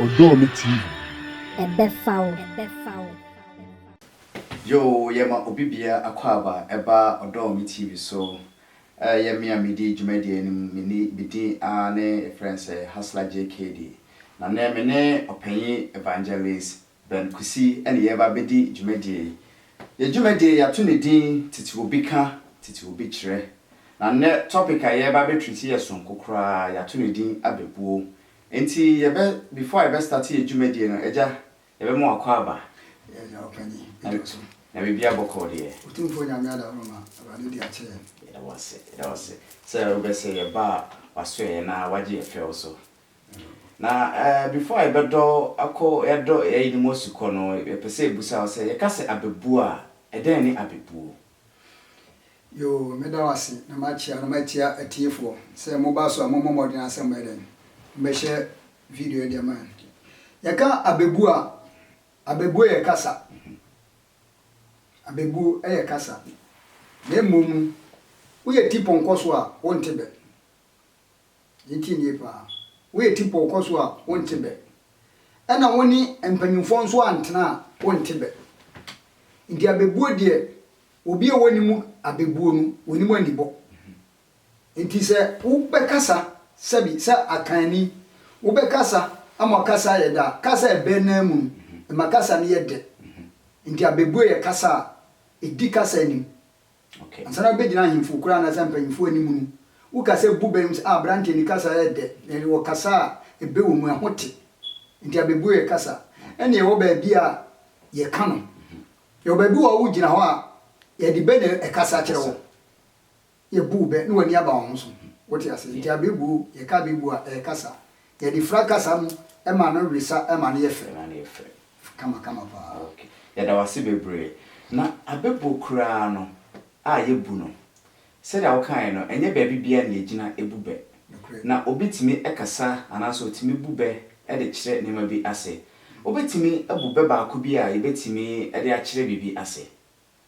Ɔdɔɔ me TV. Ɛbɛfa wo. Yoo yɛma obi bia akwaaba ɛba Ɔdɔɔ me TV so. Ɛyɛ me a medi dwumadie no mu, me ni, me din aa ne yɛfrɛ no sɛ Hustler JKD. Na nnɛ me ne Ɔpanyin Evangelist Ben Kwesi ne yɛreba abɛdi dwumadie yi. Yɛn dwumadie yi yɛato ne din Tete Obi Ka, Tete Obi Kyerɛ. Na nnɛ topic a yɛreba abɛ treat yɛ sononko koraa, yɛato ne din Abɛbuo. Enti yɛbɛ, before a yɛbɛ start yɛn dwumadie no, Agya, yɛbɛma wo akwaaba. Yes, Agya Ɔpanyin, me dɔ so. Na biribiara bɔkɔɔ deɛ? Otumfoɔ Nyame Adaworoma, Awurade di akyerɛ yɛn. Yɛda wo ase, yɛda wo ase sɛ wobɛ sɛ yɛba a, wasɔ yɛn na wagye yɛn fɛw so. Na eh before a yɛbɛdɔ akɔ yɛdɔ yɛayi ne mu asi kɔ no yɛpɛ sɛ yɛbusa wo sɛ yɛka sɛ abɛbuo a ɛdɛn ne abɛbuo? Yoo meda wase na makyea na matia atiefoɔ sɛ moba so a mommɔ mmɔden ara sɛ mobɛyɛ dɛn mobɛhyɛ video yi de ama yɛn. Yɛka abɛbuo a abɛbuo yɛ kasa abɛbuo yɛ kasa na mmom no woyɛ ti pɔnkɔ so a wonte bɛ. Yɛntie no yie pa ara. Woyɛ tipɔw kɔ so a, wonte bɛ. Ɛna wo ne mpanyimfoɔ nso antena a, wonte bɛ. Nti abɛbuo deɛ, obi a wonim abɛbuo no, wonim anibɔ. Nti sɛ wobɛkasa sɛbi sɛ akanni, wobɛkasa ama ɔkasa ayɛ dɛ a, kasa a ɛbɛ nan mu no, ɛma kasa no yɛ dɛ. Nti abɛbuo yɛ kasa a ɛdi kasa anim. Ansa na wobegyina ahemfo koraa anaasɛ mpanyimfo anim no, woka sɛ bu bɛ mu sɛ, 'Ah, aberante, ne kasa yɛ dɛ, na ɛyɛ ɔkasa a ɛbɛ wɔ mu, ɛho te. Enti abɛbuo yɛ kasa. Ɛnna yɛwɔ baabi a yɛka no. Yɛwɔ baabi wɔ hɔ a wogyina hɔ a, yɛde bɛ na ɛkasa kyerɛ wɔn. Yɛbu wo bɛ na w'ani aba wɔn so. Wote aseɛ? Enti abɛbuo, yɛka abɛbuo a, ɛyɛ kasa. Yɛde fira kasa no ma no wesa ma no yɛ fɛ. Ɛma no yɛ fɛ. Kama kama paa. Ok. Yɛda wo ase bebree. Na abɛbuo koraa no a yɛbu no, sɛdeɛ wokaeɛ no, ɛnyɛ baabi biara na yɛgyina bu bɛ. Nokorɛ. Na obi tumi kasa anaasɛ ɔtumi bu bɛ de kyerɛ nneɛma bi ase. Wobɛtumi abu bɛ baako bi a yɛbɛtumi de akyerɛ biribi ase?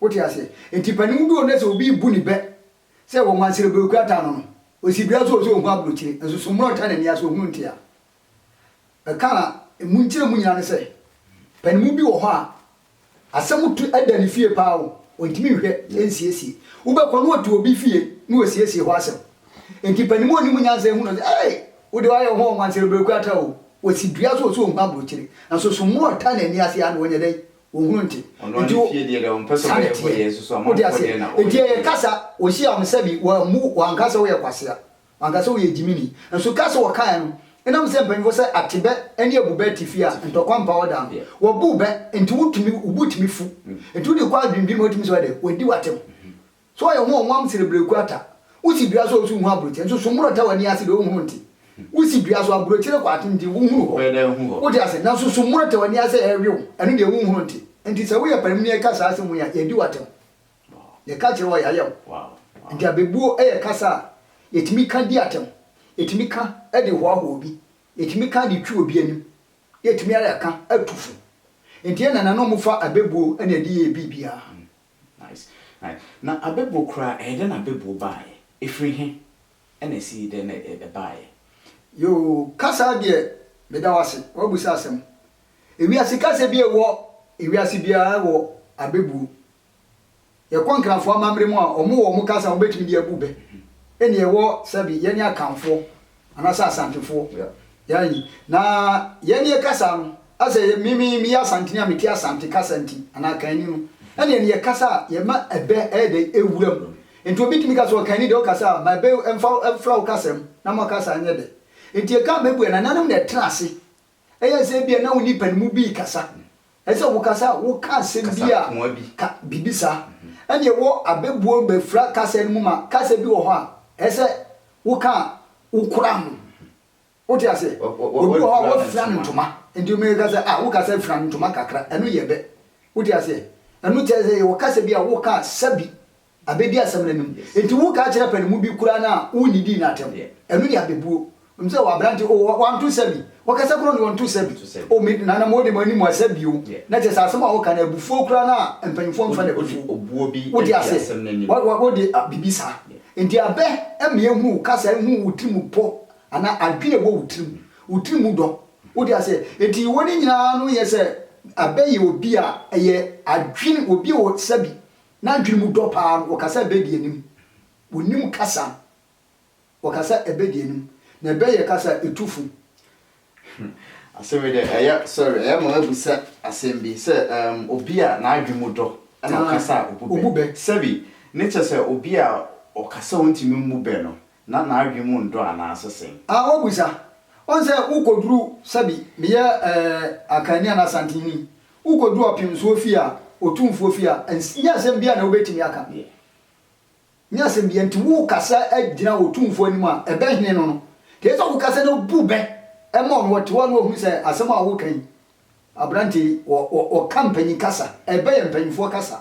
Wote aseɛ? Enti panin bi wɔ hɔ nnɛ sɛ obi rebu ne bɛ sɛ ɔwɔ Mansere Bere kura taa no no, ɔsi dua so sɛ ɔhu aburokyire, nso so mmorɔ ntaa n'ani ase, ɔhunu nte a. Mɛka a ɛmu nkyerɛmu nyinaa ne sɛ, panin bi wɔ hɔ a asɛm tu da ne fie pa ara o, ɔntumi nhwɛ nsiesie. Wobɛkɔ na ɔte obi fie na ɔresiesie hɔ asɛm. Enti panin a ɔnim nyansa ahu no sɛ, Ei! Wo deɛ woayɛ wo ho wɔ Mansere Bere kura taa o, ɔsi dua so sɛ ɔhu aburokyire, nso so mmorɔ ntaa n'ani ase ara na ɔnyɛ dɛn? Wɔhunu nti. Ɔno ara ne fie deɛ deɛ ɔmpɛ sɛ ɔbɛyɛ hɔ yɛ nso so amanfoɔ deɛ na ɔyɛ. Nti ɛyɛ kasa wɔhyia wɔn sɛbi wɔammu wɔanka sɛ woyɛ kwasea wɔanka sɛ woyɛ gyimini nso kasa wɔkaeɛ no ɛnam sɛ mpanyinfoɔ sɛ atebɛ ne abubɛ te fie a ntɔkwa mpa hɔ da no wɔbu bɛ nti wotumi wobo tumi fu nti wode kɔ adwendwen mu wotumi sɛ wɛdɛ wɔadi w'atɛm So ɔyɛ ho ɔnwam sene bereku ata? Wosi dua so a osu hu aburokyire, nso so mmoro ta w'ani ase deɛ onhunu nte? Wosi dua so, aburokyire kɔ aten nti wonhunu hɔ. Wote ase? Nanso so mmoro ta w'ani ase a ɛrewe wo, ɛno deɛ wonhunu nte? Enti sɛ woyɛ panin yi ka saa asɛm wei a, yɛadi wo atɛm. Yɛka kyerɛ wo a, yɛayɛ wo. Enti abɛbuo yɛ kasa a yɛtumi ka di atɛm, yɛtumi ka de hoahoa obi, yɛtumi ka de twi obi anim, na yɛtumi ara ka tu fo. Enti yɛn nananom fa abɛbuo na ɛde yɛɛ biribiara. Nice, nice. Na abɛbuo koraa ɛyɛ dɛn na abɛbuo baeɛ? Ɛfiri he na ɛsii dɛn na ɛbaeɛ? Yoo, kasa deɛ meda wo ase, woabisa asɛm. Ewiase kasa bi a ɛwɔ ewiase biara wɔ abɛbuo. Yɛkɔ Nkrafoɔ amammerɛ mu a, wɔwɔ wɔn kasa a wɔbɛtumi de abu bɛ. Ɛnneɛ ɛwɔ sɛbe yɛne Akanfoɔ Anaasɛ Asantefoɔ. Yɛn ayi. Na yɛn ne yɛkasa no, asɛ yɛ, me, me, meyɛ Asanteni a mete Asante kasa nti, anaa Kanni no, ɛneɛ ne yɛkasa a, yɛma ɛbɛ ɛyɛ dɛn? Ɛwura mu. Nti obi tumi ka sɛ, Ɔkanni deɛ ɔkasa a, ma ɛbɛ mfa, mfra wo kasa mu, na mo kasa nyɛ dɛ. Nti ɛka a mɛbua, Nananom na ɛtena ase Ɛyɛ sɛ ebia na wo nnipa no mu bi rekasa. Ɛyɛ sɛ wokasa a, woka asɛm bi a, ka biribi saa. Ɛnna ɛwɔ abɛbuo bɛfira kasa no mu ma kasa bi wɔ hɔ a, ɛyɛ sɛ woka a, wokora ho. Wote aseɛ? Obi wɔ hɔ a, wafira no ntoma. Nti obi bɛka sɛ, ah, wokasa fira no ntoma kakra. Ɛno yɛ bɛ. Wote aseɛ? Ɛno kyerɛ sɛ yɛwɔ kasa bi a woka a, sɛbi Abedi asɛm no anim. Enti wo ka kyerɛ pɛ no mu bi koraa no a wo nnidii no atɛm. Ɛno ne abebuo. Wonim sɛ wɔ aberante o wanto nsa bi. Wɔkasa koraa ɔno ɔnto nsa bi. O me nana mo de mo ani mo asa bio. Na kyerɛ sɛ asɛm a woka no abufuo koraa no a mpanyinfoɔ mfa no abufuo. Wote aseɛ? Wode biribi saa. Enti abɛ ma yɛhunu wo kasa nhunu wo tiri mu pɔ anaa adwene a ɛwɔ wo tiri mu. Wo tiri mu dɔ. Wote aseɛ? Enti wɔ ne nyinaa no yɛ sɛ abɛ yɛ obi a ɛyɛ adwene obi a ɔsa bi N'adwene mu dɔ paa no, ɔka sɛ ɛbɛdi anim. Ɔnim kasa. Ɔka sɛ ɛbɛdi anim. Na ɛbɛ yɛ kasa a ɛtu fo. Hmm, asɛm yi deɛ ɛyɛ sorry, ɛyɛ ma abisa asɛm bi sɛ um, obi a n'adwene mu dɔ na ɔkasa a ɔbu bɛ. Sɛbi, ne kyɛ sɛ obi a ɔkasa a ɔntumi mmu bɛ no, na n'adwene mu ndɔ anaase sɛn? A. W'abisa, ɔn sɛ wokoduru sɛbi meyɛ ɛɛ Akanni anaa Asantenni, wokoduru ɔpemsoɔ fie a, otumfoɔ fie a, nns nyɛ asɛm biaa na wobɛtumi aka. Nyɛ asɛm biaa, nti wokasa gyina otumfoɔ anim a, ɛbɛ hene no no. Nti ɛsɛ sɛ wokasa na wobu bɛ ma ɔno, ɔte hɔ a na wahunu sɛ asɛm a woka yi, aberanteɛ yi, ɔ, ɔ, ɔka mpanyin kasa, ɛbɛ yɛ mpanyinfoɔ kasa.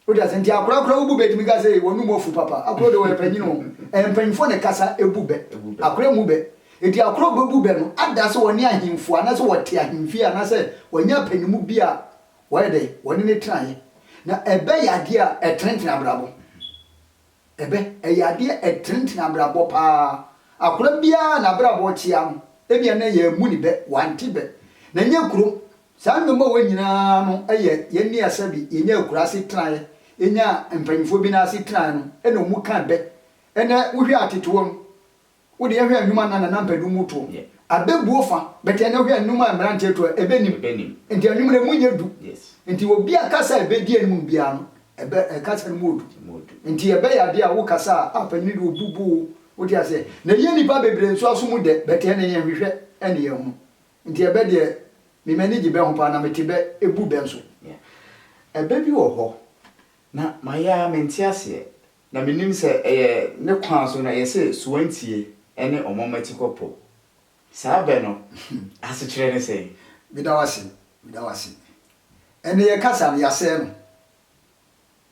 Wote ase? Nti akora kora wobu bɛ tumi ka sɛ wɔn mu afu papa. Akoro de wɔyɛ panyin o. Ɛyɛ mpanyinfoɔ na ɛkasa ebu bɛ. Akora mmu bɛ. Nti akora obebu bɛ no ada sɛ wɔne ahenfo anaasɛ wɔte ahenfie anaasɛ wɔanya apanimu bi a wɔyɛ dɛ wɔne no tenaeɛ. Na ɛbɛ yɛ adeɛ a ɛtenetene abrabɔ. Ɛbɛ, ɛyɛ adeɛ ɛtenetene abrabɔ paa. Akora biara n'abrabɔ tea no, ebia na yɛammu ne bɛ, wante bɛ. Na ɛnyɛ kurom, saa nnwom a wɔ nyinaa no yɛ yɛn nea sɛbi yɛnya akura ase tenaeɛ, yɛnya mpanyinfoɔ bi nan ase tenaeɛ no na wɔn mu ka bɛ. Ɛnɛ wohwɛ a tete wɔn. Wo deɛ hwɛ nnwuma nnan na na mpɛ du mu toɔ mu. Abɛbuo fa, but ɛnɛ hwɛ nnwuma a mmeranteɛ to a, ɛbɛnim. Nti anwummerɛ ɛmu nyɛ du. Nti obi a kasa a ɛbɛdi anim no biara no, ɛbɛ, kasa no mu wɔ du. Nti ɛbɛyɛ adeɛ a wo kasa a, a panin deɛ ɔbubu wo, wote aseɛ. Na ɛyɛ nnipa bebree nso aso mu dɛ, but ɛnɛ yɛnhwehwɛ ne yɛhunu. Nti ɛbɛ deɛ, me m'ani gye bɛ ho paa na mete bɛ, ɛbu bɛ nso. Ɛbɛ bi wɔ hɔ, na mayɛ ara mente aseɛ, Na menim sɛ ɛyɛ ne kwan so na yɛse Suantie ne Ɔmɔmmatikɔpɔ. Saa bɛ no asekyerɛ ne sɛn? Meda wo ase, meda wo ase. Ɛnde yɛn kasa no, yɛasɛe no.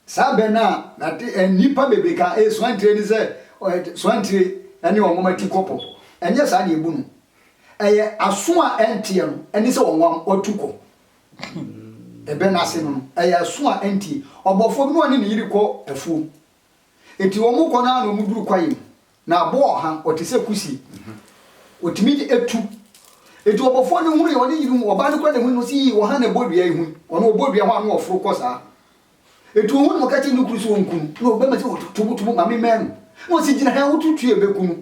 Saa bɛ no a nade a nnipa bebree ka ɛyɛ Suantie ne sɛ Suantie ne Ɔmɔmmatikɔpɔ. Ɛnyɛ saa na yɛbu no. Ɛyɛ aso a ɛnteɛ no ne sɛ ɔnwam, ɔtu kɔ. Hmm. Ɛbɛ no ase no, ɛyɛ aso a ɛntie. Ɔbɔfoɔ bi na ɔne ne yere kɔ afuom. Enti wɔn kɔ no ara na wɔn duru kwaeɛ mu. Na aboɔ ɔha, ɔte sɛ kusie. Ɔtumi de etu. Enti ɔbɔfoɔ no hunu yɛ ɔne yere hu, ɔbaa no kura ne ho no si yii ɔha na ɛbɔ dua yi ho. Ɔno ɔbɔ dua ho ano ɔforo kɔ saa. Enti ɔhu no ɔka kyerɛ ne kuru sɛ ɔnku no. Na ɔbɛma sɛ ɔtobotobo ma me mɛn no. Na ɔsi gyina ha wotutu yɛ bɛku no.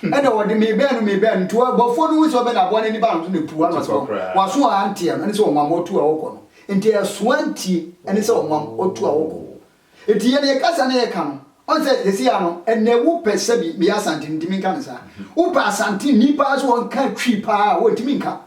Ɛna wɔde meebɛn no meebɛn no nti ɔboafoɔ no hu sɛ ɔbɛn aboa no ani ba no so na epuw ano ɔsɛ wɔn aso a anteɛ no ɛne sɛ wɔn ama ɔtu a ɔkɔ no nti ɛso antie ɛne sɛ wɔn am ɔtu a ɔkɔ nti yɛn yɛ kasa na yɛka no ɔn sɛ sɛsi a no ɛnɛ wo pɛ sɛ bi meyɛ asanteni nti menka no saa wo pɛ asanteni paa sɛ wɔn ka twi paa a wɔntumi nka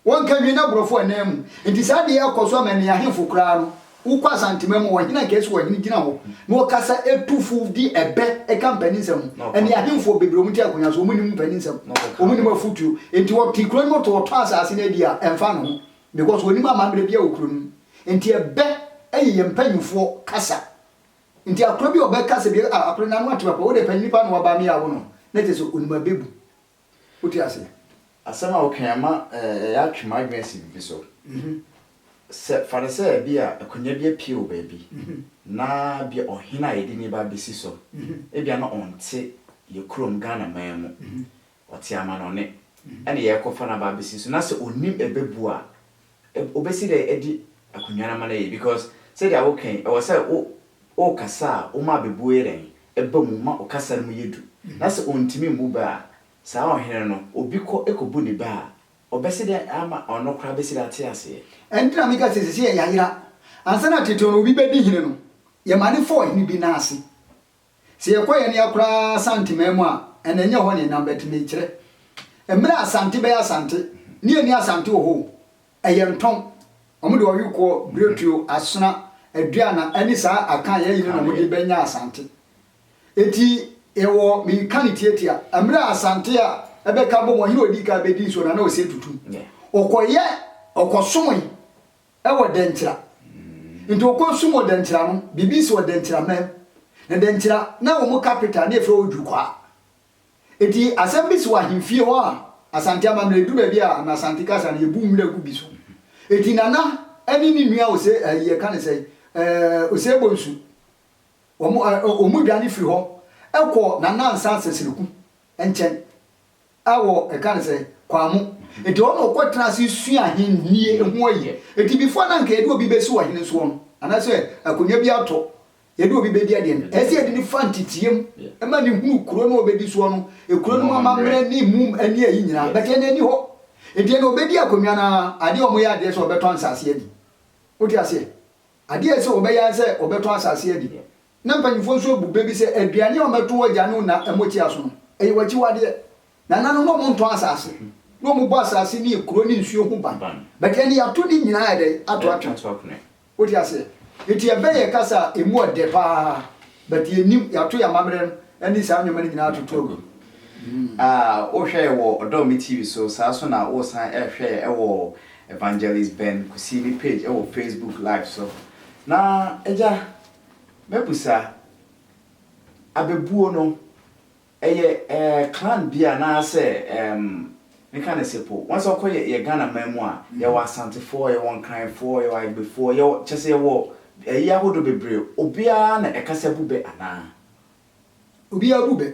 Wɔnka nwi na borɔfo anan mu. Nti saa deɛ ɛkɔ so ama nia henfo koraa no wokɔ asantema mu ɔhene anka ɛsi ɔhene gyina hɔ na ɔkasa ɛtu fo di ɛbɛ ɛka mpani nsɛm ɛnia henfoɔ bebree ɔmo te akonya so ɔmo nim mpani nsɛm ɔmo nim afutuo nti ɔte kuro no mu to ɔtɔn asaase no adi a ɛnfa ne ho because ɔnim amammerɛ bia wɔ kuro no mu nti ɛbɛ ɛyɛ yɛn mpanyinfoɔ kasa nti akoro bi ɔbɛ kasa bi a akoro n'ano ate papa wode panyini paa na waba me a wo no na kyɛ sɛ ɔnim abɛbu Wote ase? Asɛm a wokae ama yɛatwe mo adwene asi biribi so. Sɛ, fa no sɛ ebia akonnwa bi apue wɔ baabi, na ebia ɔhene a yɛde ne ba besi so, ebia na ɔnte yɛn kurom Ghanaman mu, ɔte amanɔne, ɛna yɛrekɔfa no aba abesi so, na sɛ onim ɛbɛbu a, Wobesi dɛ edi akonnwa no ama no ayɛ because sɛdeɛ wo kɛn ɛwɔ sɛ wo wo kasa a woma abebuo yɛ dɛn ɛba mu ma ɔkasa no mu yɛ du na sɛ ɔntumi mmu bɛ a saa ɔhene no obi kɔ ɛkɔbu ne bɛ a ɔbɛsi dɛ ama ɔno koraa bɛsi dɛ ate aseɛ. Ɛno nti na me ka sɛ sɛsei yɛ yayera ansa na tete no obi bɛdi hene no yɛ ma ne fa ɔhene bi nan ase Sɛ yɛkɔ yɛn ani akora Asanteman mu a, ɛnna ɛnyɛ hɔ na yɛnam, but mekyerɛ mmerɛ a Asante bɛyɛ Asante, ne yɛnni Asante wɔ hɔ o, ɛyɛ ntɔn, wɔn de ɔwekoɔ, biretuo, asona, aduana, ɛne saa aka a yɛayi no na wɔn de bɛnya Asante. Enti yɛwɔ, meka no tiatia, mmerɛ a Asante a ɛbɛka abom, ɔhene a ɔdi kan bɛdi nsuo no, na na ɔsɛ tutum, ɔkɔyɛ, ɔkɔsomoe. Ɛwɔ Dɛnkyira. Nti ɔkɔ sum wɔ Dɛnkyira no, biribi si wɔ Dɛnkyira man mu. Na Dɛnkyira, na wɔn capital no yɛfrɛ hɔ Dwukwaa. Nti asɛm bi si wɔ ahemfie hɔ a, Asante amammerɛ, ɛduru baabi a na Asante kasa no, yɛbu nwira gu bi so. Nti Nana ne ne nua Ose, ayi yɛka no sɛn, Osei Bonsu, wɔn, wɔn dwane firi hɔ kɔ Nana Ansah Seseleku nkyɛn. A wɔ ɛka no sɛ, Kwamo. Enti ɔno na ɔkɔ tena ase sua ahenni ho ayiyɛ. Enti before na nka yɛde obi bɛsi ɔhene soɔ no, anaasɛ akonnwa bi atɔ, yɛde obi bɛdi adeɛ no, ɛsɛ sɛ yɛde no fa nteteɛ mu ma no hunu kuro no a ɔbɛdi soɔ no, kuro no mu amammerɛ ne mu ne ayi nyinaa. But ɛnnɛ ɛnni hɔ. Enti ɛnnɛ ɔbɛdi akonnwa no ara, adeɛ a wɔyɛ adeɛ sɛ wɔbɛtɔn nsaseɛ adi. Wote aseɛ? Adeɛ a ɛsɛ sɛ wɔbɛyɛ ara sɛ wɔbɛtɔn asaseɛ adi. Na mpanyimfoɔ nso abu bɛ bi sɛ, Aduane a wɔbɛto wo agya ne wo na motia so no, ɛyɛ w'akyiwadeɛ. Na ɛnanom no wɔntɔn asase, na wɔbɔ asase ne akuro ne nsuo ho ban. But ɛnde yɛato ne nyinaa ayɛ dɛn? Ato atwene. Wote aseɛ? Enti yɛbɛn yɛn kasa a, ɛmu ɔdɛ pa ara. But yɛnnim, yɛato yɛn amammerɛ no ne saa nneɛma no nyinaa atoto agu. Ah, wohwɛɛ wɔ Ɔdɔ Me TV so, saa ara nso na woresan rehwɛ yɛn wɔ Evangelist Ben Kusini page wɔ Facebook Live so. Na Agya, Mɛbusa, Abɛbuo no, ɛyɛ eh, clan bi anaa sɛ eh, meka no sɛ po, once ɔkɔ yɛ, yɛ Ghana man mu a, yɛwɔ Asantefoɔ, yɛwɔ Nkranfoɔ, yɛwɔ Agbefoɔ, yɛwɔ, kyerɛ sɛ yɛwɔ ayi ahodoɔ bebree, obiara na ɛkasa bu bɛ anaa? Obiara bu bɛ,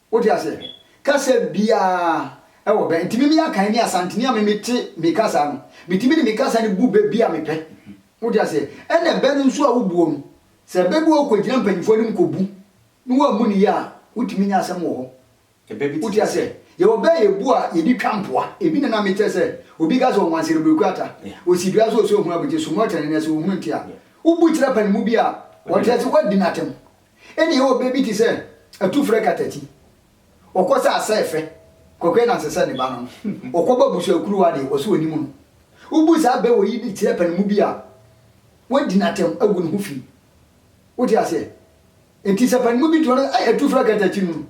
Wote aseɛ? Kasa biara wɔ bɛ. Nti mimi Akan ne Asanteni a mimi te me kasa no, metumi de me kasa no bu bɛ bi a mepɛ. Wote aseɛ? Ɛna bɛ no nso a wobuo no, sɛ bɛ bi wɔ hɔ kɔgyina mpanyinfoɔ anim kɔbu na wɔammu no yie a, wotumi nya asɛm wɔ hɔ. Wote aseɛ? Yɛwɔ bɛ a yɛbu a yɛde twa mpoa. Ebi na na mekyerɛ sɛ, obi ka sɛ ɔnwansere bere kuata, ɔsi dua so ɔsɛ ɔhunu abogye, sumɔ kyɛne na sɛ ɔhunu nte a, wobu kyerɛ panimu bi a, ɔte aseɛ, woadi no atɛm. Ena yɛwɔ bɛ bi te sɛ Atufrɛ Katati. Ɔkɔ sɛ Asɛɛfɛ Kwaku Ananse sɛ ne ba no. Ɔkɔbɔ abusuakuruwa a deɛ, ɔse ɔnim no. Wobu saa bɛ wɔ yi de kyerɛ panimu bi a, wɔadi no atɛm agu ne ho fi. Wote aseɛ? Enti sɛ panimu bi to no, Ai Atufrɛ Katati no,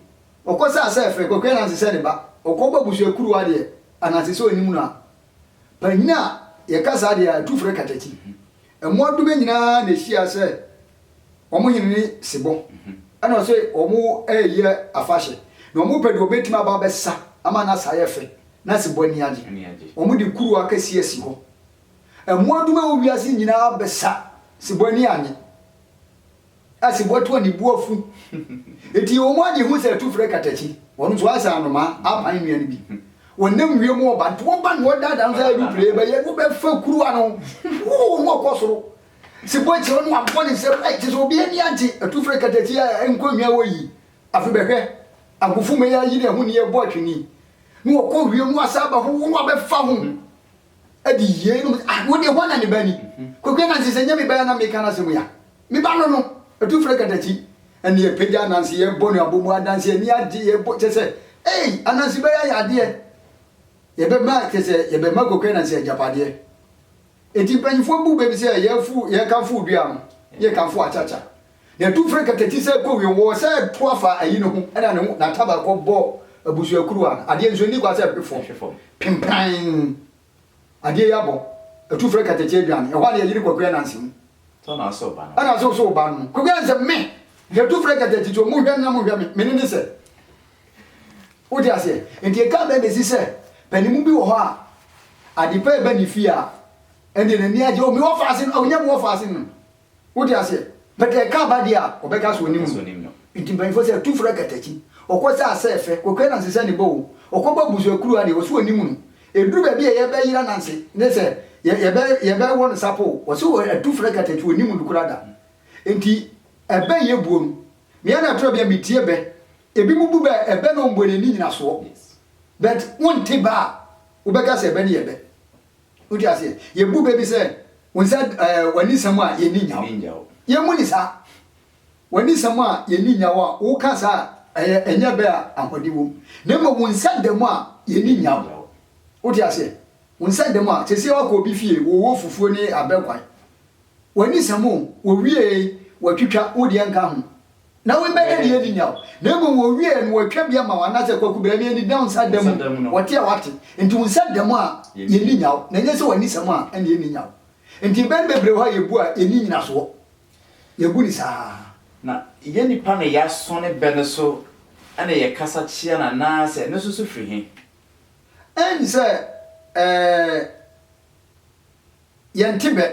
ɔkɔ sɛ Asɛɛfɛ Kwaku Ananse sɛ ne ba. Ɔkɔbɔ abusuakuruwa a deɛ, Ananse sɛ ɔnim no a, panyin a yɛka saa deɛ, Ai Atufrɛ Katati. Mmoadoma nyinaa na ehyiaa sɛ wɔn hene no sebɔ, ɛna ɔse wɔreyi afahyɛ, na wɔpɛ deɛ wɔbetumi aba abɛsa ama n'asa ayɛ fɛ, na sebɔ ani agye. Wɔde kuruwa kɛseɛ asi hɔ. Mmoadoma a ɛwɔ wiase nyinaa bɛsa, sebɔ ani annye. Ase bɔtoɔ ne bo afu. Enti wɔn a deɛ hu sɛ ɛtu frɛ katakyi, wɔn nso ayɛ sɛ anomaa apan nnua no bi. Wɔnam wiem wɔ ba, nti wɔba na wɔdaadaa no sɛ aeroplane bɛyɛ, wobɛfa kuruwa no, wuu na wɔkɔ soro. Se bɔ kyerɛ no abɔ ne nsam, ai, kyerɛ sɛ obi ani agye, ɛtu frɛ katakyi a ɛnkɔ nnwa hɔ yi. Afe bɛhwɛ, agofomma yi ayi ne ahoni ɛbɔ atwene, na wɔkɔ wiem na wɔasan aba ho, wuu na wɔabɛfa ho. adi yeinom, ah, wo deɛ hwan na ne ba ni? Kwaku Ananse, sɛ nyɛ me ba a na meka n'asɛm yi a, me ba no no, atu frɛ katakyi, ɛnna yɛpagya Ananse, yɛbɔ no abɔmu, Ananse ani agye, yɛbɔ, kyɛ sɛ, ei, Ananse bɛyɛ ayɛ adeɛ, yɛbɛma, kyɛ sɛ, yɛbɛma Kwaku Ananse agyapadeɛ. Enti mpanyimfoɔ bu bɛ bi sɛ yɛfu, yɛkamfo odua no, yɛkamfo akyakya, Na ɛtu firi kɛtɛti sɛ ɛkɔ wiem, wɔwɔ sɛ ɛto afa ayi ne ho na ne ho n'ataba kɔbɔ abusuakuruwa no adeɛ nso nni kwa sɛ ɛhwe fam pempann. Adeɛ yi abɔ ɛtu frɛ kɛtɛti adwane. Ɛhɔ a na yɛyere Kwaku Ananse mu. Ananse wo ba no. Ananse wo so wo ba no. Kwaku Ananse me! Ɛtu frɛ kɛtɛti to mo nhwɛ me na mo nhwɛ me. Me ne ne sɛ. Wote aseɛ? Nti ɛka bɛn na ɛsi sɛ panimu bi wɔ hɔ a adepa ɛba ne fie a ɛndeɛ n'ani agye o me wɔfaase no, ɔnyɛ me wɔfaase no. Wote aseɛ? But ɛka aba deɛ a, ɔbɛka sɛ ɔnim no. Nti mpanyinfoɔ sɛ, tu frɛ katakyi. Ɔkɔ sɛ asɛ fɛ, Kwaku Ananse sɛ ne ba o. Ɔkɔ bɔ abusua kuru a deɛ, ɔse ɔnim no. Ɛduru baabi a yɛbɛ yere Ananse, ne sɛ, yɛ, yɛbɛ, yɛbɛ wɔ no sapo o, ɔse wɔ, atu frɛ katakyi, ɔnim no koraa da. Nti, ɛbɛ yɛ buo no, me ara toro bi a, metie bɛ. Ɛbinom bu bɛ, ɛbɛ na ɔmbuo no ani nyinasoɔ. But, wonte bɛ a, wobɛka sɛ ɛbɛ no yɛ bɛ. Wote aseɛ? Yɛbu bɛ bi sɛ, Wo nsa, ɛɛ, w'ani nsɛm a yɛnni nyaw. Nni nyaw. Yɛmmu no saa. W'ani nsɛm a yɛnni nyaw a woka saa a, ɛyɛ, ɛnyɛ bɛ a ahoɔden wom. Na mmom wo nsa da mu a yɛnni Nni nyaw. nyaw. Wote aseɛ? Wo nsa da mu a, seesei woakɔ obi fie, wowɔ fufuo ne abɛ kwae. W'ani nsɛm o, wɔwiee, wɔatwitwa, wo deɛ nka ho. Na woi bɛyɛ deɛ adi nyaw, na mmom wɔwieɛ no wɔatwa bi ama wo, anaasɛ Kwaku bra yɛn anidam nsa da mu, wɔte a wɔate, nti wo nsa da mu a yɛnni nyaw, na ɛnyɛ sɛ w'anisɛm a ɛna yɛnni nyaw. Nti mpɛn bebree hɔ a yɛbu a yɛnni nyinasoɔ, yɛbu no saa. Na yɛn nnipa na yɛasɔ ne bɛ no so na yɛkasa kyea no anaasɛ ɛno nso so firi he? Ɛnn sɛ ɛɛɛ yɛnte bɛ,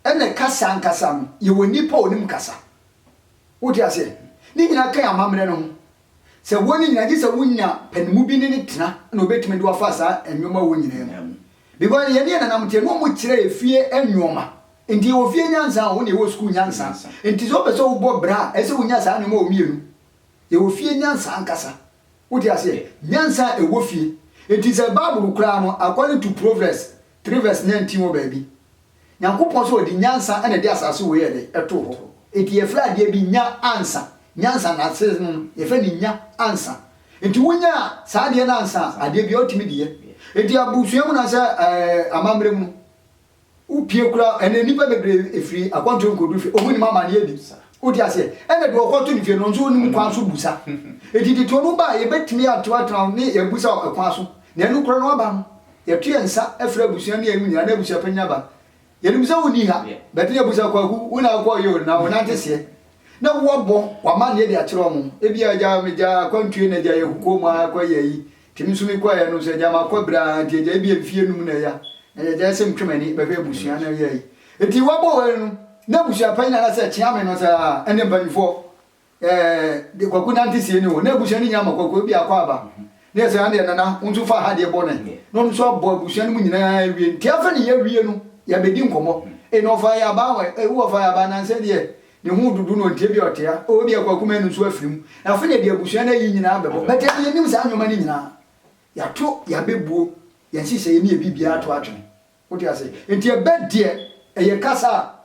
ɛnna kasa ankasa no yɛwɔ nnipa a wɔnim kasa. Wote aseɛ? Ne nyinaa ka yɛn amammerɛ no ho. Sɛ ɛwɔ ne nyinaa, gye sɛ wonya panimu bi ne no tena na ɔbɛtumi de wo afa saa nnoɔma ɛwɔ nyinaa mu. Because yɛne yɛn nananom teɛ, na wɔkyerɛ yɛn fie nnoɔma. Nti yɛwɔ fie nyansa, wo deɛ wowɔ sukuu nyansa. Nti sɛ wopɛ sɛ wobɔ bra a, ɛsɛ sɛ wonya saa nnoɔma wɔ mmienu. Yɛwɔ fie nyansa ankasa. Wote aseɛ? Nyansa a ɛwɔ fie. Nti sɛ Bible koraa no, according to Proverbs, Trivers nyan ti wɔ baabi. Nyankopɔn so ɔde nyansa na ɛde asase wei yɛ dɛ ɛtoo hɔ. Enti yɛfrɛ adeɛ bi nya ansa. Nyansa nase no yɛfrɛ no nya ansa. Enti wo nyaa saa adeɛ no ansa a adeɛ biara wotumi de yɛ. Enti abusua mu na sɛ ɛɛ amamerɛ mu no wo pie kura ɛnɛ nnipa bebree ɛfiri akwantuo nkɔduru fie ɔmo nim amaneɛ bi. Wote aseɛ? Ɛna deɛ ɔkɔto no fie no nso ɔnim kwan so busa. Enti tete ɔmo ba a yɛbɛtumi ato atena hɔ ne yɛabusa ɛkwan so. Na ɛno kura no aba no Yɛto yɛn nsa frɛ abusua ne yɛn nyinaa na abusua panyin aba. Yɛnim sɛ wonni ha, but yɛbu sɛ Kwaku, wo na wokɔɔ yɛ o, na wo nante seɛ. Na woabɔ w'amanneɛ de akyerɛ wɔn. Ebia agya megyaa akwantuo na gyae ahukuo mu ara kɔyɛ ayi, nti me nso mekɔeɛ no nso agya makɔ berɛ ara nti agya ebia mfie nnum na ɛya, na yɛgyae sɛ metwe m'ani bɛhwɛ abusua na yɛ ayi. Nti woabɔ w'ani no na abusua panyin anaasɛ Kyeame no sɛ, ah, ɛnde mpanimfoɔ. Ɛɛ de kwaku nante sie ne o na abusua no nya ma kwaku bi akɔ aba ne ɛsɛ adeɛ nana wo nso fa ha deɛ bɔ ne na ɔno nso abɔ abusua no mu nyinaa awie nti afɛ ne yɛ wie no yɛbɛdi nkɔmmɔ e na ɔfa yɛ aba wɔ ewu ɔfa yɛ aba nansɛ deɛ ne ho dudu no ntie bi ɔtea o bi akwaku mɛ no nso afiri mu afɛ ne deɛ abusua no ayi nyinaa bɛbɔ bɛtɛ ne yɛnim saa nneɛma no nyinaa yɛato yɛabɛbuo yɛn hyehyɛ yɛ ne yɛ biribiara to atwene wote ase nti ɛbɛ deɛ ɛyɛ kasa a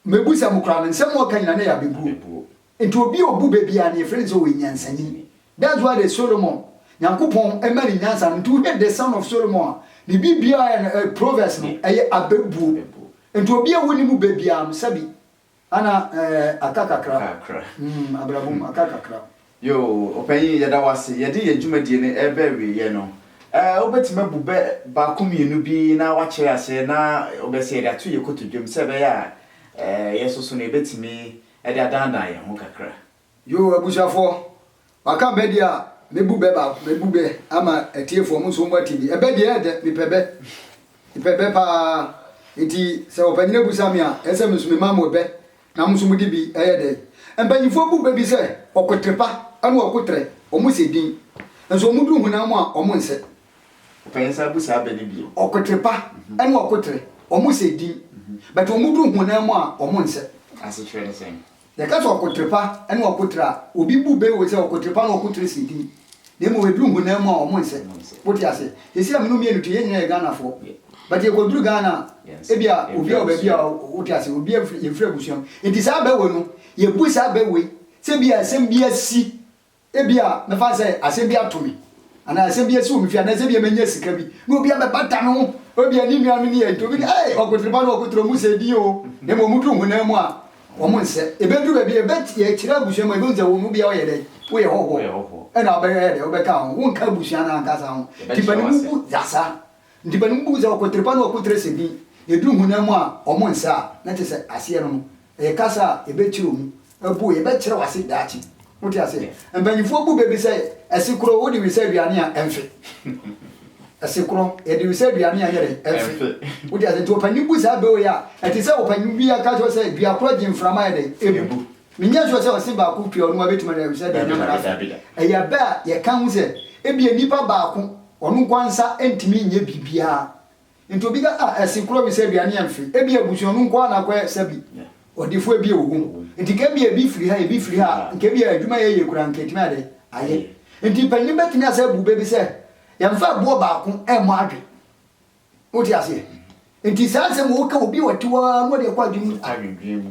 Mebu sɛ mo koraa no nsɛm a ɔka nyinaa na ɛyɛ abebuo. Nti obi a ɔbu bɛ biara no yɛfrɛ no sɛ ɔyɛ nyansani. That's why the Solomon, Nyankopɔn ma no nyansa no, nti wo hwɛ the son of Solomon a, ne biribiara a ɛyɛ no, proverbs no, ɛyɛ abebuo. Nti obi a wonni mu bɛ biara no, sɛbi, ana ɛɛ, aka kakra, mm, abrabɔ mu, aka kakra. Yoo, Ɔpanyin, yɛda wo ase. Yɛde yɛn dwumadie no reba awieeɛ no, eh, wobɛtumi abu bɛ baako mmienu bi na woakyerɛ aseɛ na wobɛyɛ sɛ yɛde ato yɛn kotodwam sɛ ɛbɛyɛ a, eh, yɛn nso so no yɛbɛtumi de adannan yɛn ho kakra. Yoo, abusuafoɔ, wɔaka bɛ deɛ a, mɛbu bɛ baako, mɛbu bɛ ama atiefoɔ, mo nso mo ate bi. Ɛbɛ deɛ ɛyɛ dɛ, mepɛ bɛ, mepɛ bɛ pa ara. Enti sɛ Ɔpanyin abusa me a, ɛyɛ sɛ me nso mema mo ɛbɛ Na mo nso mode bi yɛ dɛn? Mpanyimfoɔ bu bɛ bi sɛ ɔkotere pa ne ɔkoterɛ, wɔsɛ din, nso wɔduru honam mu a, wɔnsɛ. Ɔpanyin san bu saa bɛ no bio. Ɔkotere pa ne ɔkoterɛ, wɔsɛ din, but wɔduru honam mu a, wɔnsɛ. Asekyerɛ ne sɛn? Yɛka sɛ ɔkotere pa ne ɔkoterɛ a, obi bu bɛ wɔ sɛ ɔkotere pa ne ɔkoterɛ sɛ din. Na mmom ɛduru honam mu a ɔmo nsɛ. Wote aseɛ? Sɛsi a me ne wo mmienu te, yɛn nyinaa yɛ Ghanafoɔ. But yɛkɔduru Ghana a, ebia obi a wɔ baabi a, wote aseɛ, obi a yɛn firi abusua mu. Nti saa bɛ wei no, yɛbu saa bɛ wei sɛ ebia asɛm bi asi, ebia mɛfa no sɛ asɛm bi ato me, anaa asɛm bi asi wɔ me fie, anaasɛ ebia manya sika bi, na obi abɛbata me ho, ebia ne nuanom ne yɛn nti, obi ka, Ei, ɔkotere ba no, ɔkotere, ɔmo sɛ din o. Na mmom ɔmo duru honam mu a, Wɔn nsɛ. Ebedu baabi a ɛbɛ yɛkyerɛ abusua mu a ebehu sɛ wɔn mu biara ɔyɛ dɛ woyɛ hɔhoɔ ɛna ɔbɛyɛ dɛ ɔbɛka ho wonka abusua no ankasa ho nti panimu bu yasa nti panimu bu sɛ ɔkotere pa na ɔkotere sɛ bi yɛduru honam mu a wɔn nsɛ a na kyɛ sɛ aseɛ no no ɛyɛ kasa a ɛbɛkyerɛ mu ɛbu yɛbɛkyerɛ wase daakye Wote aseɛ? Mpanyinfoɔ bu bɛ bi sɛ ɛse korɔ wode wisa aduane a ɛmfe. Ɛse korɔ yɛde wisa aduane a ɛnyɛ dɛ ɛmfe. Wote aseɛ? Nti ɔpanyin bu saa bɛ wei a, ɛte sɛ ɔpanyin bi aka kyerɛ sɛ dua korɔ gye mframa ayɛ dɛ ebu. Menyɛ sure sɛ ɔse baako pira ɔno a bɛtumi ade wisa aduane ama no afe. Ɛyɛ bɛ a yɛka ho sɛ ebia nipa baako ɔno nkoa nsa ntumi nyɛ biribiara Nti obi ka ah ɛse koro bi sɛ aduane yɛ mfe, ebia abusua no nko ara na akɔyɛ sɛ bi ɔdefo ebia wɔ hɔ mu. Nti nka ebia ebi firi ha, ebi firi ha a, nka ebia adwuma a yɛyɛ koraa nka etumi ayɛ dɛ? Ayɛ. Nti mpanyin no betumi asan abu bɛ bi sɛ, yɛmfa ɛboɔ baako mmɔ adwe. Wote aseɛ? Nti saa nsɛm a ɔka obi a ɔte hɔ ara na ɔde ɛkɔ adwene mu.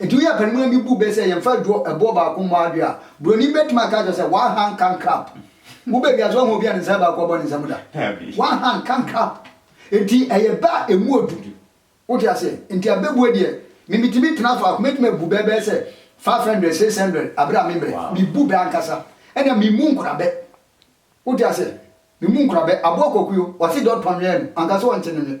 Enti woyɛ apanimuni bi bu bɛ sɛ yɛmfa aduro ɛboɔ baako mmɔ adwe a, buroni bɛtumi aka akyerɛ wo sɛ one hand can clap. Wo baabi a so woahu obi a ne nsa baako abɔ ne nsa mu da? One hand can clap. Enti ɛyɛ bɛ a ɛmu ɔdu. Wote aseɛ? Enti abɛbuo deɛ, me metumi tena so a, mɛtumi abu bɛ bɛyɛ sɛ five hundred, six hundred aberɛ a memmerɛ. Mebu bɛ ankasa. Ɛnna memmu nkura bɛ. Wote aseɛ? Memmu nkura bɛ. Aboa Kwaku yo, ɔse deɛ ɔtɔnwɛɛ no, anka sɛ ɔnte no nwe.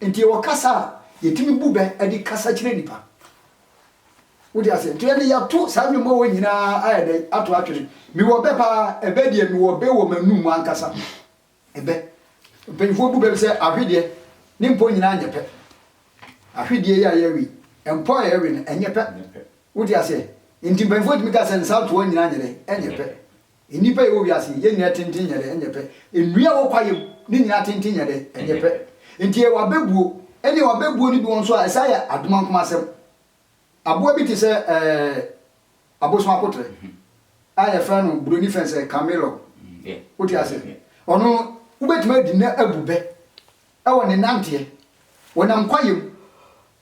Nti yɛwɔ kasa a yɛtumi bu bɛ de kasa kyerɛ nnipa. Wote aseɛ? Nti ɛnde yɛato saa nnwom horoɔ nyina ara ayɛ dɛn? Ato atwene. Mewɔ bɛ pa ara, ɛbɛ deɛ mewɔ bɛ wɔ m'anum mu ankasa. Ɛbɛ. Mpanyimfoɔ bu bɛ sɛ ahwedeɛ, ne mpɔ nyina ara nyɛ pɛ. Ahwedeɛ yi a yɛwe yi, mpɔ a yɛwe no, ɛnyɛ pɛ. Wote aseɛ? Nti mpanyimfoɔ tumi ka sɛ nsaatoa nyina ara nyɛ dɛn? Ɛnyɛ pɛ. Nnipa a yɛwɔ wiase yi, yɛn nyinaa tenten nyɛ dɛ, ɛnyɛ pɛ. Nnua a ɛwɔ kwaeɛ mu no nyinaa tenten nyɛ dɛ, ɛnyɛ pɛ. Enti yɛwɔ abɛbuo. Ɛnneɛ wɔ abɛbuo no bi wɔ nso a, ɛsan yɛ adomankomasɛm. Aboa bi te sɛ ɛɛ abosom akoterɛ a yɛfrɛ no buroni fɛ sɛ camellor. Wote aseɛ? Ɔno, wobɛtumi adi no abu bɛ wɔ ne nanteɛ. Ɔnam kwaeɛ mu.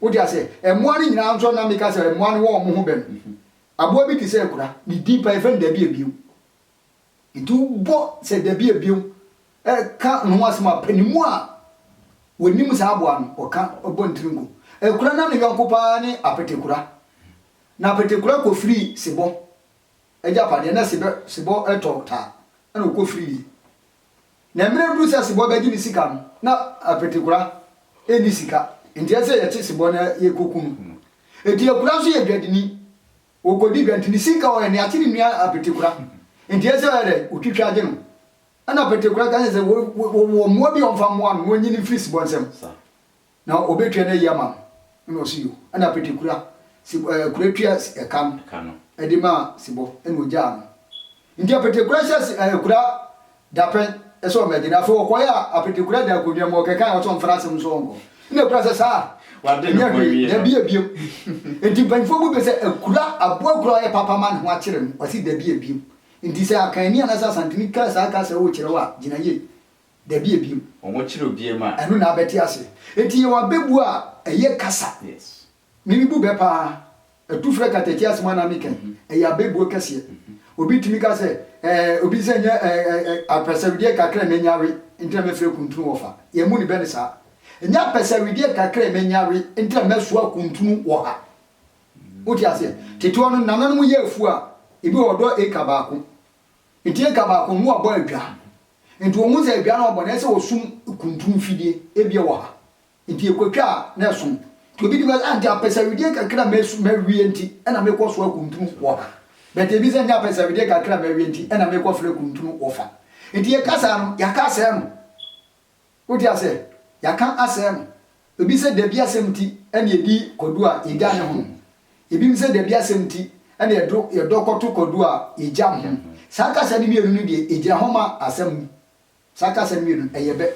Wote aseɛ? Mmoa no nyinaa nso na meka sɛ mmoa no wɔ wɔn ho bɛ no. Aboa bi te sɛ akura, ne din paa yɛfrɛ no dabiabiem. Nti wobɔ sɛ dabiabiem ka ne ho asɛm a, panimu a wɔnim saa aboa no, ɔka, ɔbɔ ne tiri nko. Akura na ne yɔnko paa ne apetekura. Na apetekura kɔfirii sebɔ agyapadeɛ, na sebɔ tɔ taa, ɛna ɔkɔfiriiɛ. Na mmerɛ duru sɛ sebɔ bɛgye ne sika no, na Apetekura nni sika, nti ɛsɛ sɛ yɛkye sebɔ na yɛkɔku no. Nti Akura nso yɛ dwadini, ɔkɔdi dwa, nti ne sika a ɔyɛ no, yɛakye ne nua Apetekura, nti ɛsɛ sɛ ɔyɛ dɛn? Ɔtwitwa gye no. Ɛna Apetekura ka kyerɛ no sɛ, wɔ, wɔ, wɔwɔ mmoa bi a ɔmfa mmoa no, na ɔnyi no mfiri sebɔ nsam. Na ɔbɛtua no ayi ama no, ɛna ɔse yo, ɛna Petekura, Seb, ɛɛ, Kura tua s, ɛka no, Ɛka no. ɛde maa Sebɔ, ɛna ɔgyaa no. Nti Apetekura hyɛ s, ɛɛ, Kura dapɛn sɛ ɔmmɛgye no. Afei ɔkɔeɛ a, Apetekura da akonnwa mu, ɔkekae a, ɔse ɔmfa n'asɛm no so ɔnkɔ. Ɛna Kura sɛ, Saa? Wade ne Ɛnyɛ ho hwee, awie no. dabi abiem. Nti mpanyinfoɔ bu bɛ sɛ Akura, aboa Kura a ɔyɛ papa ma ne ho akyere no, ɔse dabi abiem. Nti sɛ Akanni anaasɛ Asanteni ka saa kasa wɔ kyerɛ wo a, gyina yie. Dabi a bio. Wɔn mo kyere obie ma. Ɛno na abɛte ase. Enti yɛwɔ abɛbuo a ɛyɛ kasa. Yes. Me me bu bɛ paa. Atu frɛ katati ase mu anaa me kɛn. Ɛyɛ abɛbuo kɛseɛ. Obi tumi ka sɛ ɛɛ obi sɛ nyɛ ɛɛ ɛɛ apɛsɛwedeɛ kakra a manya we nti na mɛfrɛ kuntunu wɔ fa. Yɛn mu ne bɛ ne saa. Ɛnyɛ apɛsɛwedeɛ kakra a manya we nti na mɛsoa kuntunu wɔ ha. Wote aseɛ? Tete hɔ no nananom yɛ afuo a ebi wɔ hɔ ɔdɔ acre baako. Ntsi nka baako mbowa bɔ edwaa, ntsi wohu dza edwaa no ɔbɔ na ɛsɛ wɔsum kuntun fidie, ebia wɔ ha, ntsi yekotwa a na ɛso. Ntsi obi di bɛs, ah ntsi apɛsɛwidie kakra a mawie ntsi na mekɔ soa kuntun wɔ ha, but ebi sɛ nnyɛ apɛsɛwidie kakra a mawie ntsi na mekɔ frɛ kuntun wɔ fa. Ntsi yɛka saa no, yɛaka asɛɛ no. Wode asɛ yɛaka asɛɛ no? Ebi sɛ dabi asɛm nti ɛna yɛdi kwadu a yɛgya ne ho. Ebinom sɛ dabi asɛm nti ɛna yɛdo yɛdɔ kɔto kwadu a yɛgya ho. Saa kasa no mmienu no deɛ ɛgyina hɔ ma asɛm. Saa kasa no mmienu no ɛyɛ bɛ.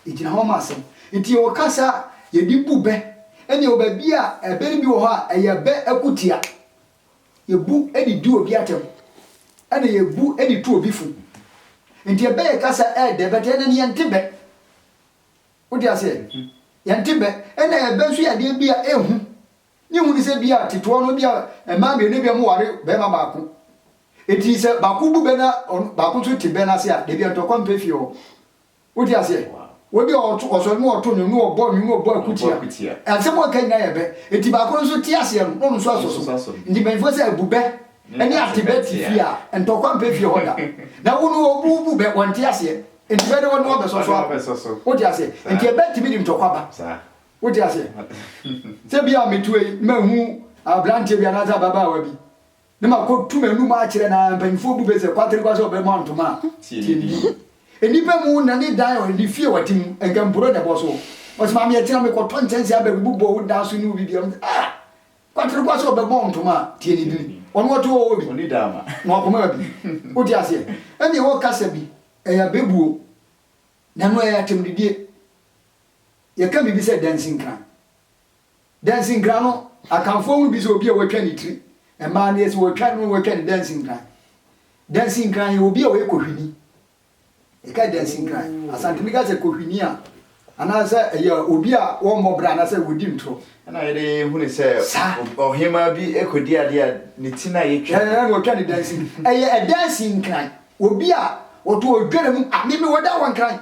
Ɛgyina hɔ ma asɛm. Nti yɛwɔ kasa a yɛde bu bɛ ɛna yɛwɔ baabi a ɛbɛ no bi wɔ hɔ a ɛyɛ bɛ akutia. Yɛbu de di obi atɛm, ɛna yɛbu de tu obi fo. Nti ɛbɛ yɛ kasa ɛɛdɛ, bɛtɛ ɛnɛ no yɛnte bɛ. Wote aseɛ? Yɛnte bɛ. Ɛna ɛbɛ nso yɛ adeɛ bi a ɛhu. Ne hu ne sɛ bi a tetoɔ no bi a mmaa mmienu bi a wɔware bɛrima baako. Nti sɛ baako bu bɛ na baako nso te bɛ no ase a, dabi a ntɔkwa mpɛ fie hɔ. Wote aseɛ? Wɔde ɔto, ɔsɔre ne ɔto nnwom ne ɔbɔ nnwom ne ɔbɔ akutia. Asɛm a ɔka nyinaa yɛ bɛ. Enti baako no nso te aseɛ no, na ɔno nso asɔ so. Enti mpanyinfoɔ sɛ, bu bɛ ne ate bɛ te fie a, ntɔkwa mpɛ fie hɔ da. Na wo no wo, wo bu bɛ, wɔnte aseɛ. Enti bɛ de wɔn ne wɔn bɛsɔ so ako. Wote aseɛ? Enti ɛbɛ tumi de ntɔkwa ba. Wote aseɛ? Sɛ bi a metu wei, mahu abranteɛ bi anaasɛ ababaawa bi. Ne ma kɔ tu m'anum akyerɛ na mpanyinfoɔ bu bɛ sɛ kwatere kwa sɛ ɔbɛ mɔ ntoma a tie ne din. Nnipa mu na ne dan ɔ ne fie ɔte mu nka mpuro na ɛbɔ so. Ɔse maame ɛkyena me kɔ tɔ nkyɛnse abɛ bu bɔ wo dan so ne wo bibia ɔmo sɛ ah kwatere kwa sɛ ɔbɛ mɔ ntoma a tie ne din. Ɔno ɔte hɔ ɔ bi na ɔkoma bi. Wo te aseɛ? Ɛnneɛ wo kasa bi ɛyɛ abɛbuo na ɛno ɛyɛ atɛmdidie. Yɛ ka biribi sɛ dansinkran. Dansinkran no, Akanfoɔ hu bi sɛ obi a wɔatwa ne tiri. Mmaa deɛ sɛ wɔtwa no, wɔtwa no dansinkran. Dansinkran yɛ obi a ɔyɛ kohwini. Yɛka dansinkran, Asanteni ka sɛ kohwini a, anaasɛ ɛyɛ obi a wɔmmɔ bra anaasɛ wɔdi ntorɔ. Ɛna yɛde hunu sɛ ɔhemaa bi kɔdi adeɛ a ne ti no a yɛtwa no. Ɛna wɔtwa no dansinkran. Ɛyɛ dansinkran, obi a ɔto ɔdware mu, a meme wɔda wɔ nkran.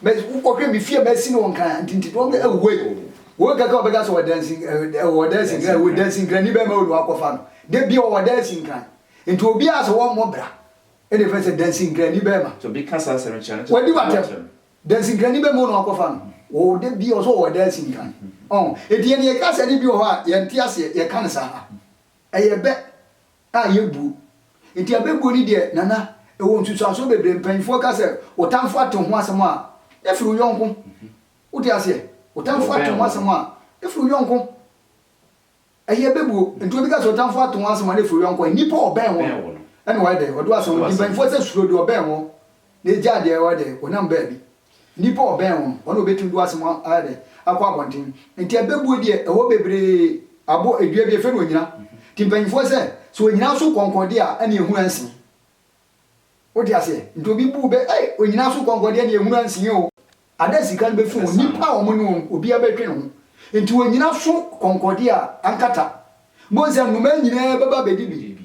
Mɛ ɔhwɛ mi fie mɛ si no nkran ntinti dɔm ɛ wo yi wo kaka ɔbɛ ka so wɔ dansi ɛ wɔ dansi nkran wɔ dansi nkran ni bɛ mɛ olu akɔfa no de bi ɔwɔ dansi nkran nti obi a sɛ wɔn mɔ bra ɛ de fɛ sɛ dansi nkran ni bɛ ma obi ka saa asɛm kyerɛ no kyerɛ wadi watɛm dansi nkran ni bɛ mɛ olu akɔfa no wɔ de bi ɔsɔ wɔ dansi nkran ɔn eti yɛ ni yɛ ka sɛ ni bi wɔ hɔ a yɛn ti aseɛ yɛ ka ne saa ha ɛyɛ bɛ a ɛyɛ buo. Nti abɛbuo no deɛ Nana ɛwɔ nsusuansoɔ bebree mpaninfoɔ ka sɛ wo tamfo ate ho asɛm a ne firi wo yɔnko wote aseɛ wo tamfo ate ho asɛm a ne firi wo yɔnko ɛyɛ abɛbuo nti obi ka sɛ wo tamfo ate ho asɛm a ne firi wo yɔnko nnipa a ɔbɛn wo no ɛna wayɛ dɛ ɔde wo asɛm nti mpaninfoɔ sɛ suro deɛ ɔbɛn wo na ɛgyaa deɛ wayɛ dɛ ɔnam baabi Nnipa a ɔbɛn wɔn, wɔn na wɔbɛtumi de wɔn asɛm ayɛ dɛ, akɔ abɔnten. Nti abɛbuo deɛ, ɛhɔ bebree abo, dua bi, yɛfrɛ no onyina. Nti mpanyimfoɔ sɛ, sɛ onyina so kɔnkɔn deɛ a, ɛne ɛhunu ansi. Wote aseɛ? Nti obi bu wo bɛ, ei, onyina so kɔnkɔn deɛ, ɛne ɛhunu ansi o. Ada a sika no bɛfi wɔn, nnipa a wɔne wɔn, obiara bɛtwe ne ho. Nti onyina so kɔnkɔn deɛ a, ankata. Mobɛhu sɛ nnomaa nyinaa bɛba abɛdi bi.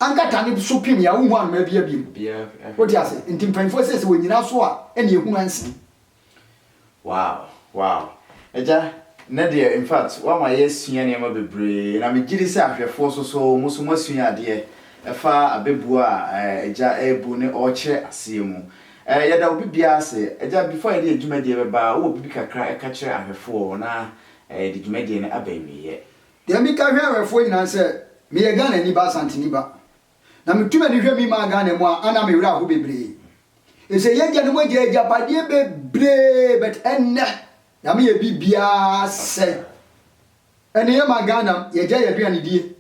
Anka tane bi so pim yi a wonhu anomaa biaa bio. Wote ase? Nti mpanyimfoɔ sei sɛ wɔnyina so a ɛne ɛhunu ɛnsen. Wow wow agya nnɛ deɛ in fact woama yɛasua nneɛma bebree na megyedi sɛ ahwɛfoɔ so so mo so moasua adeɛ ɛfa abɛbuo a agya ɛrebu ne ɔrekyerɛ aseɛ mu ɛɛ yɛda obi biara ase agya before yɛde yɛ dwumadie bɛba wowɔ biribi kakra ɛka kyerɛ ahwɛfoɔ na yɛde dwumadie no aba awieɛ. Deɛ meka hwɛ awɛfoɔ nyinaa ne sɛ meyɛ Ghanani ba, Asanteni ba. Na metu m'ani hwɛ me man Ghana mu a, ana me werɛ aho bebree. Efisɛ y'agyanom agya agyapadeɛ bebree but ɛnnɛ Nyame yɛ biribiara sɛe. Ɛne yɛ man Ghana y'agya yɛ aduanedie.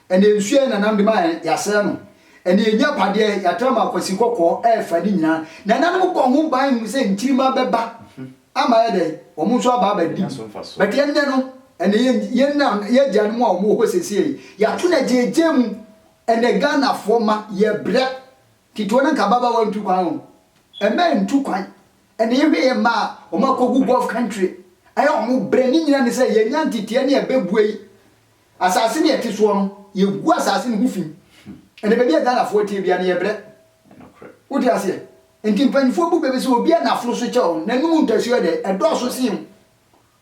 Ɛne nsuo a yɛ nananom de ma yɛn y'asɛe no. Ɛne yɛ nyapadeɛ y'atra ma akwasi kɔkɔɔ ɛɛfa ne nyinaa. Nananom bɔ ho ban hu sɛ nkyirimma bɛba. ama ayɛ dɛn? Wɔn nso aba abɛdi Nya so mfasoɔ. But ɛnnɛ no, ɛnɛ yɛn yɛn na yɛn agyanom a wɔwɔ hɔ seesei yi, yɛato no agyeegye mu. Ɛnɛ Ghanafoɔ mma, yɛbrɛ. Tete no anka ababaawa ntu kwan o. Mmaa ntu kwan. Ɛnɛ yɛhwɛ yɛn mma a, wɔakɔgu Gulf country. Ɛyɛ a wɔbrɛ. Ne nyinaa ne sɛ yɛannya nteteɛ ne ɛbɛbue yi. Asase no a ɛte soɔ no, yɛgu asase no ho fi. Ɛnna baabi a Ghanafoɔ teɛ biara no, yɛbrɛ. Wote aseɛ? Nti mpanimfoɔ bu bɛ bi sɛ, obi a n'aforo so kyɛɛ wo no, n'anom ntasuo yɛ dɛ, ɛdɔɔso sen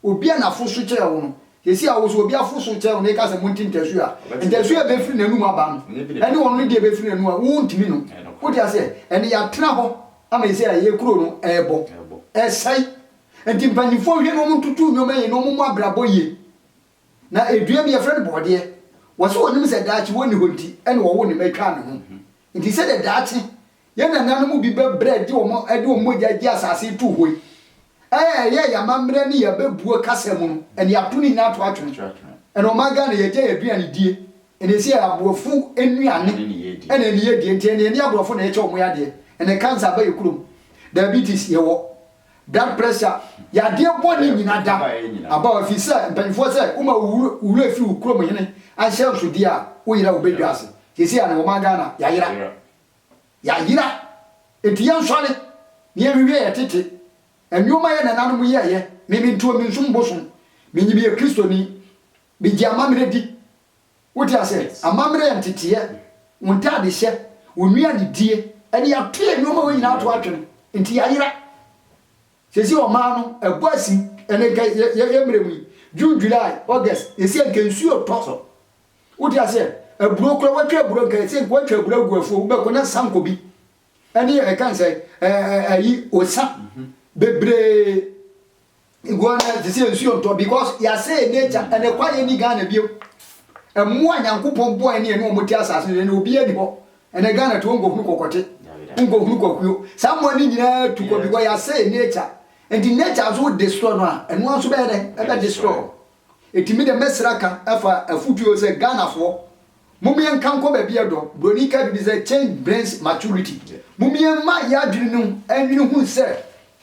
wo. Obi a n'aforo so kyɛɛ wo no, seesei a wo nso obi aforo so kyɛɛ wo na yɛka sɛ monte ntasuo a, ntasuo a ɛbɛfiri n'anom aba no, ɛne ɔno ne deɛ ɛbɛfiri n'anom aba, wontumi no. Wote aseɛ? Ɛnna yɛatena hɔ ama seesei a yɛn kuro no rebɔ, ɛresɛe. Nti mpanimfoɔ nhwɛ na wɔntoto nneɛma yie na wɔmmɔ abrabɔ yie. Na dua bi, wɔfrɛ no borɔdeɛ, wɔse wɔnim sɛ daakye wɔnni hɔ nti na wɔwoo ne mma twaa ne ho. Nti sɛdeɛ daakye yɛn nananom bi bɛbrɛ de wɔn de wɔn mogya gye asase too hɔ yi, a ɛyɛ yɛn amammerɛ ne yɛn abɛbuo kasa mu no, ɛnde ato ne nyinaa to atwene. Ɛnna ɔman Ghana, yɛagyae aduanedie, ɛnna ɛsei ɛyɛ aborɔfo nnuane ne nneyɛdie. Nti ɛnde ɛnyɛ aborɔfo na yɛkyɛ wɔn adeɛ. Ɛnde cancer aba yɛn kurom, diabetes yɛwɔ, Da mprɛsa, yadeɛ bɔne nyina da aba hɔ, ɛfiri sɛ mpanimfoɔ sɛ woma wo wura firi wo kurom hene ahyɛnsodeɛ a, woyera a wobɛdwa ase. Seesei a na wɔma Ghana yayera, yayera, enti yɛnsɔre na yɛnhwehwɛ yɛn tete nnoɔma yɛn nananom yɛɛyɛ, me mentuo mensom bosom, menyim yɛ Kristoni, megye amammerɛ di. Wo te ase? Amammerɛ yɛ nteteeɛ, wo ntadehyɛ, wo nnuanedie, ɛnna yɛato yɛn nneɛma hɔ nyinaa ato atwene, nti yɛayera. Seesei ɔman no, ɛbɔ asi, ɛnna nka yɛ yɛ yɛ mmerɛ mu yi, June, July, August, yɛsi anka nsuo retɔ so. Wo te aseɛ? Aburo koraa, wɔatwa aburo nka yɛsi anka wɔatwa aburo agu afuo, wobɛkɔ na sanko bi ɛne ɛkan sɛ ɛɛ ɛyi osa bebree. Nguan na ɛte sɛ nsuo ntɔ because yɛasɛe nature and ɛkwa yɛ ni Ghana bio. Ɛmmoa a Nyankopɔn bɔɔ ɛne ɛne wɔn te asase so ɛne obiara ni hɔ. Ɛnɛ Ghana to wonkɔhunu kɔkɔte, wonkɔhunu kwakuo. Saa mmoa no nyinaa tu kɔ because yɛasɛe nature. Nti nature nso wo destroy no a, ɛno ara nso bɛyɛ dɛn? Ɛbɛ destroy wo. Enti me deɛ mɛsrɛ aka afa afutuo sɛ Ghanafoɔ mom yɛn nka nkɔ baabi ɛdɔ, broni ka biribi sɛ change brings maturity, mom yɛn ma yɛn adwene no nwene hu sɛ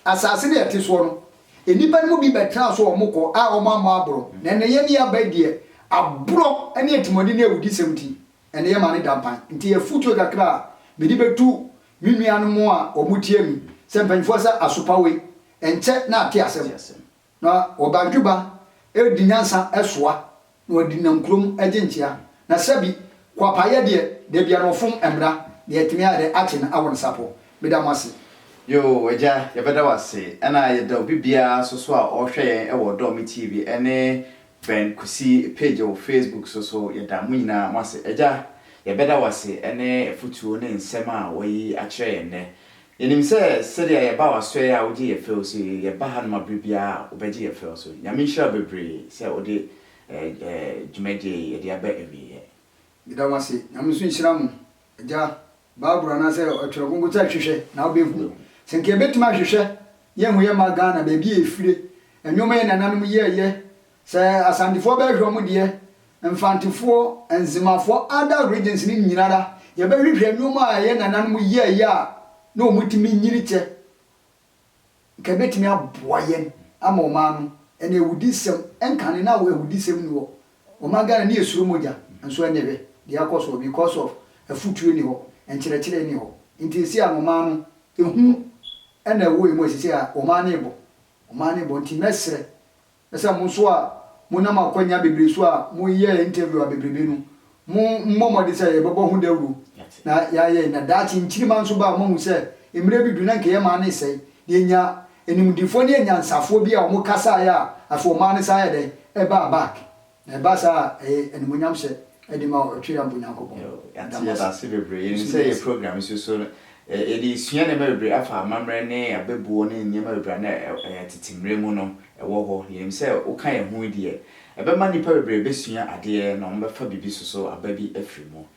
asaase no yɛte soɔ no nnipa no mu bi bɛtena so a wɔn kɔ a wɔn ammɔ aboro na ɛnɛ yɛn yɛ aban deɛ aborɔ ne atimɔden ne awudisɛm nti ɛnɛ yɛn ma no da mpan nti afutuo kakra a mede bɛtu me nuanom a wɔn tie me sɛ mpanyinfoɔ sɛ asopa wei ɛnkyɛ na ate asɛm. Na ɔbadwoba redi nyansa soa na ɔde nam kurom gye nkyea, na sɛbi kwapaayɛ deɛ, da biara ɔfom mmra, deɛ ɛtumi ayɛ dɛ akye no awɔ ne sapɔ. Meda mo ase. Yoo Agya yɛbɛda wo ase ɛna yɛda obi biara nso so a ɔrehwɛ yɛn wɔ Ɔdɔ Me TV ɛne Ben Kusi page wɔ Facebook so so yɛda mo nyinaa mo ase Agya yɛbɛda wo ase ɛne afutuo ne nsɛm a wayi akyerɛ yɛn nnɛ Yɛnim sɛ sɛdeɛ yɛba w'asɔɛ a wogye yɛ fɛw so yi, yɛba hanom a berɛ biara a wobɛgye yɛ fɛw so. Nyame nhyira wo bebree sɛ wode dwumadie yi de aba awieɛ. Meda mo ase. Nyame nso nhyira mo. Agya, Bible anaasɛ Ɔtwerɛ Kronkron sɛ hwehwɛ na wobɛhu. Sɛ nka yɛbɛtumi ahwehwɛ yɛahu yɛmma Ghana baabi a ɛfire, nnoɔma yɛn nananom yɛɛyɛ Sɛ Asantefoɔ bɛhwehwɛ wɔn deɛ, Mfantefoɔ, Nzemafoɔ, other regions no nyinara, yɛbɛhwehwɛ nnoɔma a yɛn nananom yɛɛyɛ a na wɔn tumi nyini kyɛ, nka ɛbɛtumi aboa yɛn ama wɔn ano, ɛna awudisɛm nkane na awudisɛm nni hɔ, wɔma Ghana ne yɛsuro mogya, nso ɛnɛ hwɛ deɛ akɔ soɔ because of afutuo nni hɔ, nkyerɛkyerɛ nni hɔ, nti ɛsei a wɔn ano, ɛhu ɛna ɛwɔ yɛn mu ɛsesei a wɔn ano rebɔ, wɔn ano rebɔ, nti mɛsrɛ Na sɛ mo nso a monam akwanya bebree so a moyɛɛ interview abebrebe no, mo mmɔ mmɔden sɛ yɛbɛbɔ ho dawuro na yɛayɛ, na daakye nkyirimma nso ba a moahu sɛ mmerɛ bi du na nka yɛn man resɛe, na yɛnya animdefoɔ ne anyansafoɔ bi a wɔn kasaeɛ a afei wɔn ano san yɛ dɛn? Ɛbaa back. Na ɛba saa a, ɛyɛ animuonyamhyɛ de ma Ɔtweampɔn Nyankopɔn. Yo, yɛate Yɛda mo ase. ase bebree. Yɛnim Yɛsɛ sɛ yɛ yɛda ase. program nso so no, ɛ- yɛde sua nneɛma bebree afa amammerɛ ne abɛbuo ne nneɛma bebree a na ɛ- ɛyɛ tete mmerɛ mu no ɛwɔ hɔ. Yɛnim sɛ woka yɛn ho yi deɛ, ɛbɛma nnipa bebree bɛsua adeɛ na wɔbɛfa biribi nso so aba bi afiri mu.